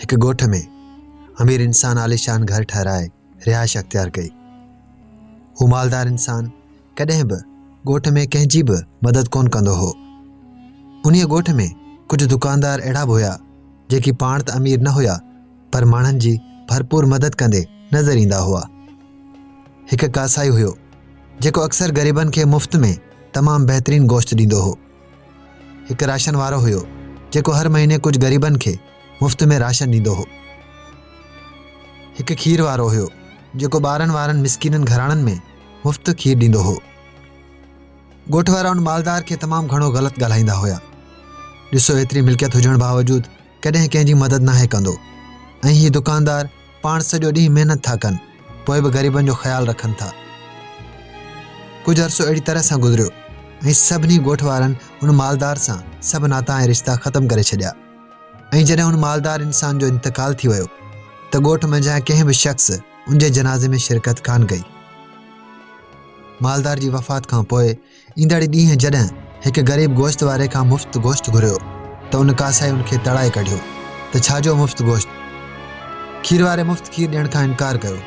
هڪ ڳوٺ ۾ امير انسان عاليشان گهر ٺهرائي رهائش اختيار ڪئي هو مالدار انسان ڪڏهن به ڳوٺ ۾ ڪنهن جي به مدد ڪون ڪندو هو انهيء ڳوٺ ۾ ڪجهه دڪاندار اهڙا به هيا جيڪي پاڻ ته امير نه هيا پر ماڻهن جي ڀرپور مدد ڪندي نظر ايندا هئا. هڪ ڪاسائي هيو، جيڪو اڪثر غريبن کي مفت ۾ تمام بهترين گوشت ڏيندو هو. هڪ راشن وارو هيو، جيڪو هر مهيني ڪجهه غريبن کي مفت ۾ راشن ڏيندو هو. هڪ کير وارو هيو، جيڪو ٻارن وارن مسڪينن گهراڻن ۾ مفت کير ڏيندو هو. ڳوٺ وارا ان مالدار کي تمام گهڻو غلط ڳالهائيندا هيا. ڏسو ايتري ملڪيت هجڻ باوجود ڪڏهن ڪنهن جي مدد ناهي ڪندو ۽ هي دڪاندار پاڻ سڄو ڏينهن محنت ٿا ڪن پوء به غريبن جو خيال رکن ٿا. ڪجهه عرصو اهڙي طرح سان گذريو ۽ سڀني ڳوٺ وارن ان مالدار سان سڀ ناتا ۽ رشتا ختم ڪري ڇڏيا ۽ جڏهن ان مالدار انسان جو انتقال ٿي ويو ته ڳوٺ منجهان ڪنهن به شخص ان جي جنازي ۾ شرڪت ڪانه ڪئي. مالدار جي وفات کان پوء ايندڙ ڏينهن جڏهن هڪ غريب گوشت واري کان مفت گوشت گهريو ته ان ڪاسائي ان کي تڙائي ڪڍيو ته ڇا جو مفت گوشت؟ کير واري مفت کير ڏيڻ کان انڪار ڪيو.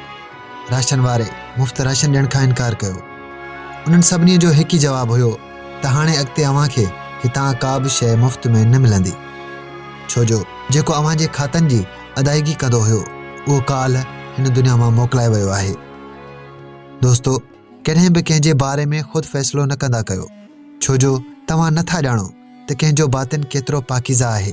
راشن واري مفت راشن ڏيڻ کان انڪار ڪيو. انهن سڀني جو هڪ ئي جواب هيو ته هاڻي اڳتي اوهان کي هتان ڪا به شيء مفت ۾ نه ملندي. ڇو جو جيڪو اوهان جي کاتن جي ادائيگي ڪندو هيو اهو ڪالهه هن دنيا مان موڪلائي ويو آهي. دوستو! ڪڏهن به ڪنهن جي باري ۾ خود فيصلو نه ڪندا ڪيو، ڇو جو توهان نه ٿا ڄاڻو ته ڪنهن جو باطن ڪيترو پاڪيزه آهي.